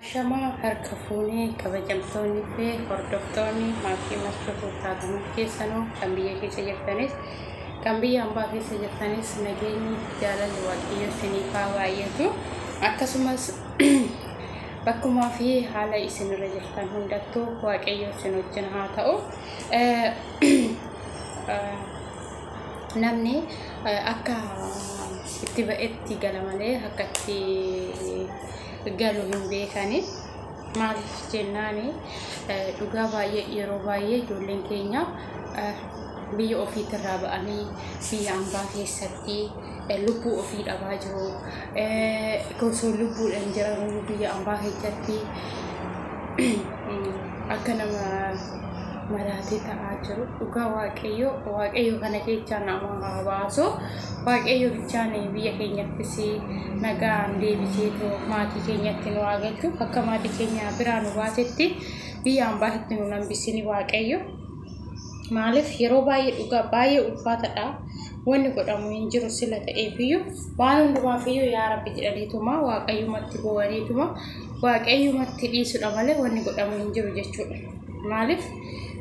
Ashamaa harka fuunee kabajamtoonni fi hordoftoonni maatii Martuu Tuuttaa Gamuu keessanuu kan biyya keessa jirtanis kan biyya ambaa keessa jirtanis nageenyi jaalalli waaqayyoo isiniif haa baay'atu akkasumas bakkumaa fi haala isin irra jirtan hundattuu waaqayyoo isin wajjin haa ta'u. Namni akka itti ba'etti gala malee akka itti galu hin beekani. Maaliif jennaan dhugaa baay'ee yeroo baay'ee ijoolleen keenya biyya ofiitirraa ba'anii biyya ambaa keessatti lubbuu ofii dhabaa jiru. Osoo lubbuudhaan jiranuu biyya ambaa keessatti Akka nama maraatee ta'aa jiru dhugaa waaqayyoo waaqayyoo kana keessaa nama haa baasu waaqayyoo bichaan biyya keenyattis nagaan deebisee too maatii keenyatti nu haa galchu akka maatii keenya biraa nu baasetti biyya ambaatitti nu nambisini waaqayyo maaliif yeroo baay'ee dhugaa baay'ee ulfaatadha wanni godhamu hin jiru sila ta'eefiyyuu waan hundumaafiyyuu yaa rabbi jedhaniituma waaqayyumatti boo'aniituma waaqayyumatti dhiisudha malee wanni godhamu hin jiru jechuudha. Maaliif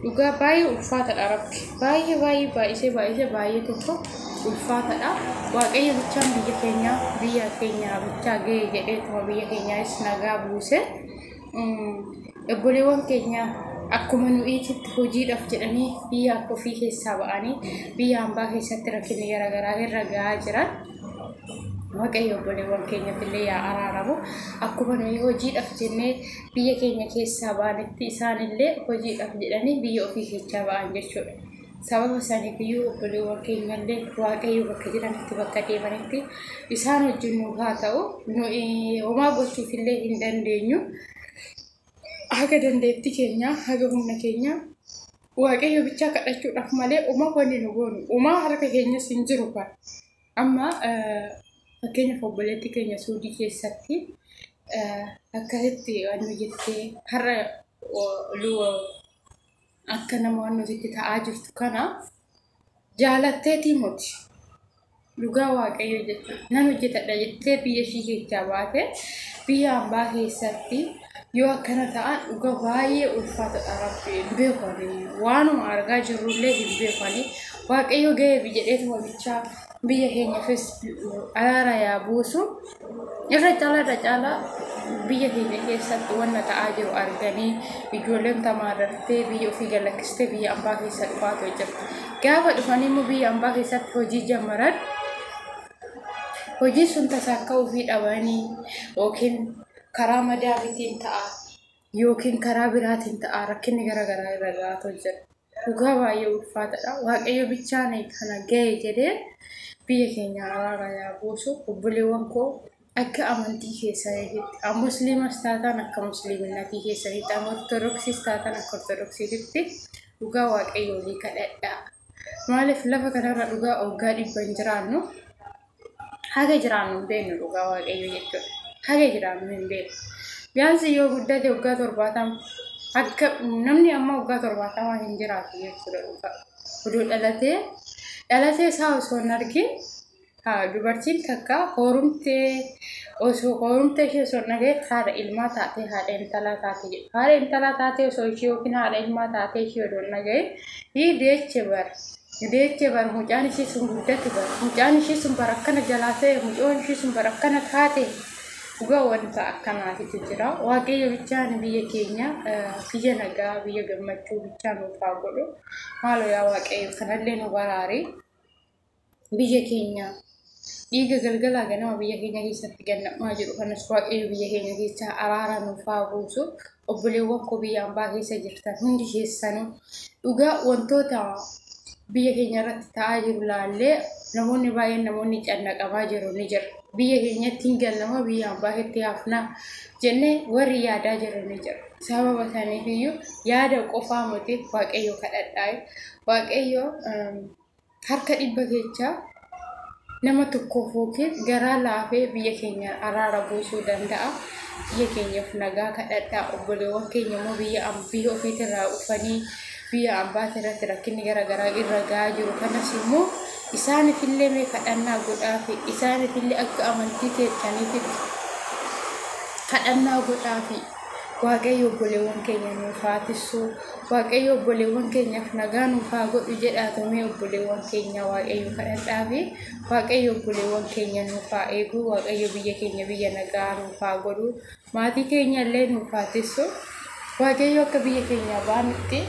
dhugaa baay'ee ulfaatadha rabbi baay'ee baay'ee baay'isee baay'isee baay'ee tokko ulfaatadha. Waaqayyo bichaan biyya keenyaa biyya keenyaa bichaa ga'ee jedheetuma biyya keenyaas nagaa buuse. Obboleewwan keenya akkuma nu'iititti hojiidhaaf jedhanii biyya ofii keessaa ba'anii biyya hambaa keessatti rakkinni garaagaraa irra ga'aa jiran. Waaqayyo obboleewwan keenyatti illee yaa araaramu. Akkuma nuyi hojiidhaaf jennee biyya keenya keessaa baanetti isaan illee hojiidhaaf jedhanii biyya ofii keessaa ba'an jechuudha. Sababa isaaniif iyyuu obboleewwan keenya illee Waaqayyo bakka jiranitti bakka deemanitti isaan wajjin nuuf haa ta'u. Nuyi homaa gochuuf illee hin dandeenyu. Haga dandeetti keenyaa haga humna keenyaa waaqayyo bichaa kadhachuudhaaf malee umaa wanni nu goonu umaa harka keenyas hin jiru kan amma fakkeenyaaf obboleetti keenya suudii keessatti akkasitti waan hojjettee har'a Akka nama waan nuti itti ta'aa jirtu kana jaalatteetii moti dhugaa waaqayyo jechuun nan hojjetadha jettee biyya ishii keessaa baate biyya ambaa keessatti yoo akkana ta'an dhuga baay'ee ulfaatadha rabbi hin beekani waanuma argaa jirrullee hin beekani waaqayyo ga'eefi jedheetuma bichaa biyya keenyafis araara yaa buusu irra caalaa irra caalaa biyya keenya keessatti wanna ta'aa jiru arganii ijoolleen tamaarrattee biyya ofii galakkistee biyya ambaa keessa dhufaatu jirti. Gaafa dhufanii immoo biyya ambaa keessatti hojii jammaran hojii sun tasaa akka ofii dhabanii yookiin karaa madaabitiin ta'a yookiin karaa biraatiin ta'a rakkinni gara garaa irra ga'aatu jira. Dhugaa baay'ee ulfaatadha. Waaqayyo bichaan kana ga'e jedhee biyya keenya araara yaa buusu. Obboleewwan koo akka amantii keessaniitti musliimas taataan akka musliiminatii keessaniitti amma ortodoksiis taataan akka ortodoksiititti dhugaa waaqayyo olii kadhadhaa. Maaliif lafa kanarra dhugaa waggaa dhibba hin jiraannu? haga jiraannu hin beeknu dhugaa waaqayyo jechuudha. Haga jiraannu hin beeknu. Biyaansi yoo guddate waggaa torbaatama akka namni amma waggaa torbaatama hin jiraatu jechuudha dhugaa. Oduu dhalatee dhalatee isaa osoo hin argin dubartiin takka hoorumtee osoo hoorumtee ishee osoo hin dhaga'in haadha ilmaa taatee haadha intalaa taatee jedhu. Haadha intalaa taatee osoo ishee yookiin haadha ilmaa taatee ishee odoo hin dhaga'in hii deeche bara. Deechee bar mucaan ishii sun guddate bar mucaan ishii sun bar akkana jalaa ta'e mucoon ishii sun bar akkana taate dhugaa wanta akkanaatitu jira waaqayyo bichaan biyya keenya biyya nagaa biyya gammachuu bichaa nuuf haa godhu maaloo yaa waaqayyo kanallee nu baraari biyya keenya dhiiga galgalaa ganama biyya keenya keessatti ganna'umaa jiru kanas waaqayyo biyya keenya keessaa araara nuuf haa buusu obboleewwan koo biyya ambaa keessa jirtan hundi keessanuu dhugaa wantoota biyya keenya irratti ta'aa jiru laallee namoonni baay'een namoonni cannaqamaa jiru ni jira biyya keenyatti hin gallama biyya ambaa keessatti hafnaa jennee warri yaadaa jiru ni jira sababa isaaniif iyyuu yaada qofaa miti waaqayyo kadhadhaa waaqayyo Harka dhibba keechaa nama tokkoof yookiin garaa laafee biyya keenya araara buusuu danda'a. Biyya keenyaaf nagaa kadhadhaa. Obboleewwan keenya immoo biyya am- biyya ofiitti irraa dhufanii biyya ambaatti irratti rakkinni gara garaa irra ga'aa jiru kanas immoo isaaniif illee mee kadhannaa godhaa fi isaaniif illee akka amantii keessaniitti kadhannaa godhaa fi Waaqayyo obboleewwan keenya nuuf haa tissuu. Waaqayyo obboleewwan keenyaaf nagaa nuuf haa godhu jedhaa tomee obboleewwan keenya waaqayyo kadhadhaa fi waaqayyo obboleewwan keenya nuuf haa eeguu waaqayyo biyya keenya biyya nagaa nuuf haa godhu maatii keenya illee nuuf haa tissuu. Waaqayyo akka biyya keenya baanutti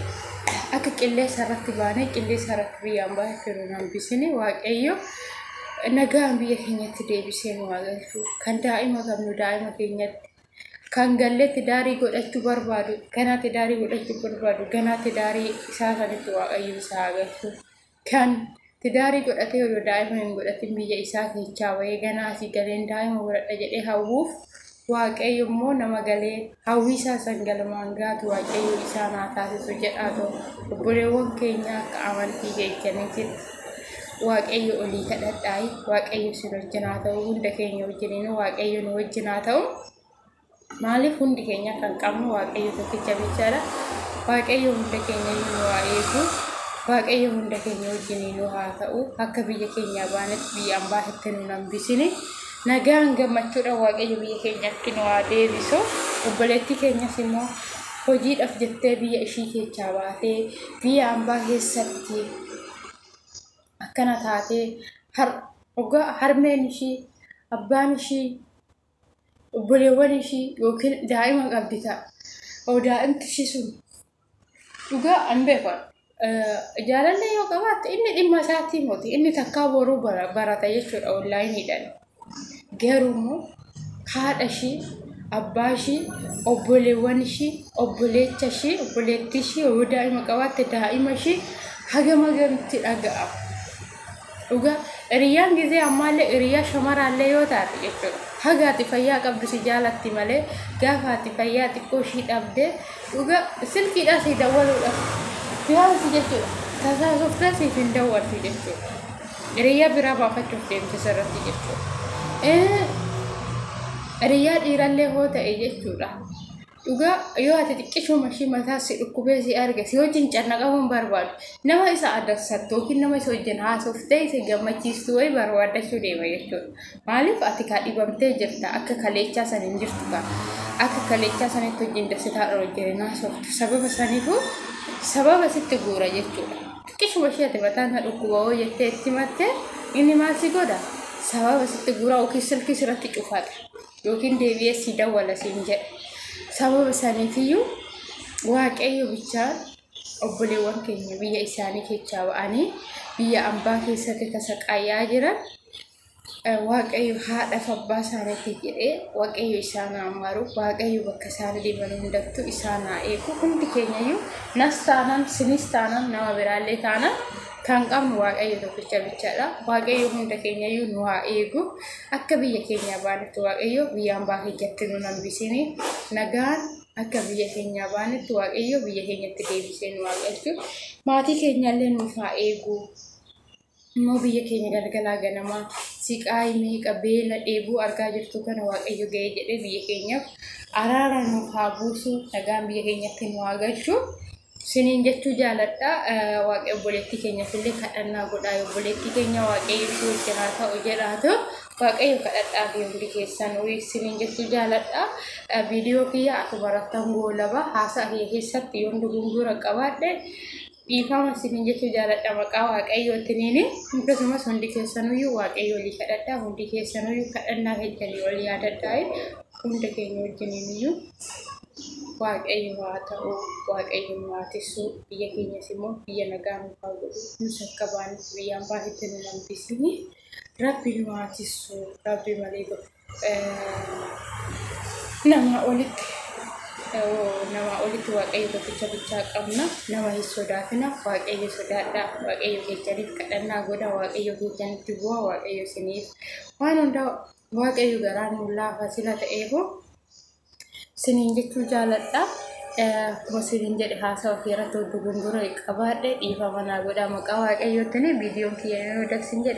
akka qilleensa irratti baanee qilleensa irratti biyyaan baay'ee nu hambisini waaqayyo nagaan biyya keenyatti deebisee nu haa galchu kan daa'ima qabnu daa'ima keenyatti. kan gallee tidaarii godhachuu barbaadu ganaa tidaarii godhachuu barbaadu ganaa tidaarii isaa sanitti waaqayyo isaa agartu kan tidaarii godhatee yoo daa'ima hin godhatin biyya isaa keechaa bahee ganaa asii galeen daa'ima godhadha jedhee hawwuuf waaqayyo immoo nama galee hawwii isaa san galmaan gaatu waaqayyo isaa naa taasisu jedhaa ta'u obboleewwan keenya akka amantii keechaniitti waaqayyo olii kadhadhaa waaqayyo isin wajjin haa ta'u hunda keenya wajjiniin waaqayyo nu wajjin haa ta'u maaliif hundi keenya kan qabnu waaqayyo tokkicha bichaadha waaqayyo hunda keenya nu haa eegu waaqayyo hunda keenya wajjiniin nu haa ta'u akka biyya keenya baanetti biyya ambaa itti nu hambisini nagaan gammachuudha waaqayyo biyya keenyatti nu haa deebisu obboleettii keenyas immoo hojiidhaaf jettee biyya ishii keessaa baatee biyya ambaa keessatti akkana taatee dhugaa harmeen ishii abbaan ishii obboleewwan ishii yookiin daa'ima qabdi ta'a. Oo daa'imti ishii sun dhugaa an beeku jaalallee yoo qabaatte inni dhimma isaatii moti inni takkaa boruu barata jechuudha onlaayiniidhaan. Garuu immoo haadha ishii, abbaa ishii, obboleewwan ishii, obboleecha ishii, obboleettii ishii yoo daa'ima qabaatte daa'ima ishii hagam hagam itti dhaga'ama. Dhugaa hiriyyaan gisee ammaallee hiriyyaa shamaraallee yoo taate jechuudha. Haga ati fayyaa qabdu si jaalatti malee gaafa ati fayyaa xiqqoo ishii dhabde dhugaa silkiidhaa si dawwaluudhaaf biyaansi jechuudha. Tasaasoftaa siif hin dawwattu jechuudha. Hiriyaa biraa baafachuuf deemte sirratti jechuudha. Hiriyaa dhiirallee hoo ta'e jechuudha. Dhugaa yoo ati xiqqishuu mashii mataa si dhukkubee si arge si wajjin cannaqamuun barbaadu nama isa adamsattu yookiin nama isa wajjin haasoftee isa gammachiistu wayii barbaadachuu deema jechuudha. Maaliif ati kaa dhibamtee jirta akka kaleechaa san hin jirtu kaa akka kaleechaa sanitti wajjin dasitaa wajjin hin haasoftu sababa saniifuu sababa sitti guura jechuudha. xiqqishuma ishee ati mataan na dhukkuba hoo jettee itti matte inni maal si godha sababa sitti guraa yookiin silkii sirratti cufata yookiin deebi'ee si dawwala siin jedha sababa saniitiyyuu waaqayyo bichaa obboleewwan keenya biyya isaanii keessaa ba'anii biyya ambaa keessatti tasaqaayaa jiran Waaqayyo haadhaaf abbaa isaaniitii jedhee waaqayyo isaan haa maaru waaqayyo bakka isaan deeman hundattuu isaan haa eegu hundi keenyayyuu nas taanaan sinis taanaan nama biraallee taanaan kan qabnu waaqayyo tokkicha bichaadha waaqayyo hunda keenyayyuu nu haa eegu akka biyya keenyaa baanetti waaqayyo biyya hambaa keenyatti nu hambisini nagaan akka biyya keenyaa baanetti waaqayyo biyya keenyatti deebisee nu haa galchu maatii keenyaallee nuuf haa eegu. immoo biyya keenya galgalaa ganamaa siqaayi meeqa beela dheebuu argaa jirtu kana waaqayyo ga'ee jedhee biyya keenyaaf araara nuuf haa buusu nagaan biyya keenyatti nu haa galchu siniin jechuu jaaladha waaqayyo obboleettii keenyaaf illee kadhannaa godhaa obboleettii keenya waaqayyo ishee wajjin haa ta'u jedhaatu waaqayyo kadhadhaa fi hundi keessan siniin jechuu jaaladha viidiyoo kiyya akkuma rattan goolaba haasaa kiyya keessatti yoon dogongora qabaadhe dhiifama isiniin jechuu jaaladha maqaa waaqayyootiniin akkasumas hundi keessanuyyuu waaqayyo olii kadhadhaa hundi keessanuyyuu kadhannaa keessanii ol yaadadhaa hunda keenya wajjiniiniyyuu waaqayyo haa ta'u waaqayyo nu haa tissuu biyya keenyas immoo biyya nagaa nu haa godhu nus akka baanuuf biyyaan baasitti nu hambisini rabbi nu haa tissuu rabbi malee gofa namaa olitti namaa olitti waaqayyo tokkicha bichaa qabna nama hin sodaatina waaqayyo sodaadha waaqayyo keessaniif kadhannaa godha waaqayyo keessanitti bu'a waaqayyo isiniif waan hundaa waaqayyo garaa nuun laafa sila ta'eefuu siniin jechuu jaaladha. Akkuma siniin jedhe haasawa kee irratti hojii gundura qabaadhe dhiifama naa godha maqaa waaqayyootiin viidiyoon kiyya yoo dabsin jedhe.